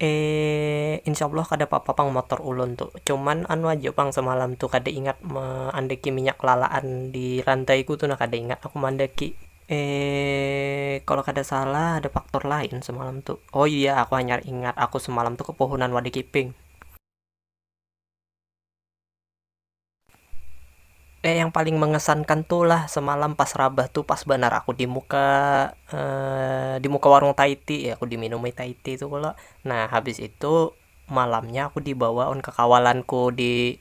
Eee insya allah kada papa pang motor ulun tu, cuman anu haja pang semalam tu kada ingat meandaki minyak lalaan di lantai ku tu nah kada ingat aku meandaki. Eee kalo kada salah ada faktor lain semalam tu, oh iya aku hanyar ingat aku semalam tu kepohonan wadah kiping. Eh yang paling mengesankan tu lah semalam pas rabah tu pas banar aku di muka di muka warung taiti aku di minumi taiti tu kalo nah habis itu malamnya aku di bawa wan kekawalanku di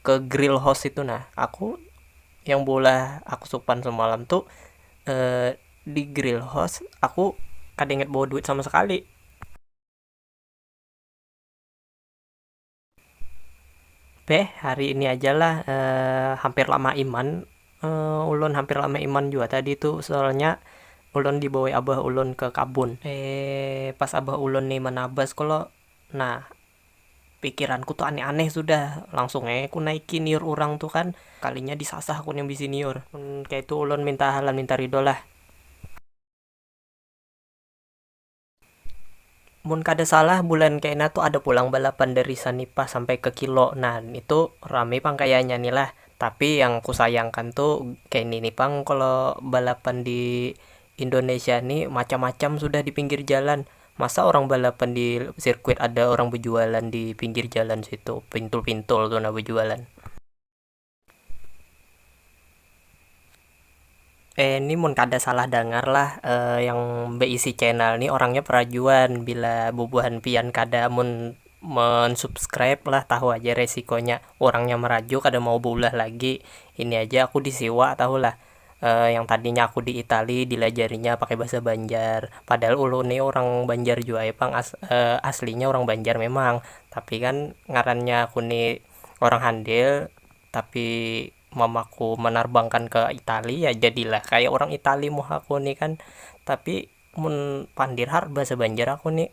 ke grill house itu nah aku yang beulah aku supan semalam tu di grill house aku kada ingat bawa duit sama sekali. Beh, hari ini aja lah eh, hampir lama iman. Eh, ulun hampir lama iman jua tadi tu, soalnya ulun dibawai abah ulun ke kabun. Eh, pas abah ulun ni manabas ko lo, nah pikiranku tu aneh-aneh sudah, langsung ai ku naiki niur urang tu kan, kalinya disasah ku nih bisi niur. Mun kaya itu ulun minta halan minta ridho lah. Mun kada salah bulan kaina tu ada pulang balapan dari Sanipah sampai ke Kilo nah itu rami pang kayanya ni lah tapi yang ku sayangkan tu kaini ni pang kalo balapan di Indonesia ni macam macam sudah di pinggir jalan masa orang balapan di sirkuit ada orang bejualan di pinggir jalan situ pintul pintul tu nah bejualan. Eh ni mun kada salah dangar lah yang beisi channel ni orangnya perajuan bila bubuhan pian kada mun mensubscribe lah tahu aja resikonya urangnya meraju kada mau beulah lagi ini aja aku di siwa tahu lah yang tadinya aku di itali dilajarinya pakai bahasa banjar padahal ulun ni urang banjar jua ai pang aslinya urang banjar memang tapi kan ngarannya aku ni. orang handil tapi mamaku manarbangkan ke itali ya jadilah kaya orang itali muhaku ni kan tapi mun pandir har bahasa banjar aku ni.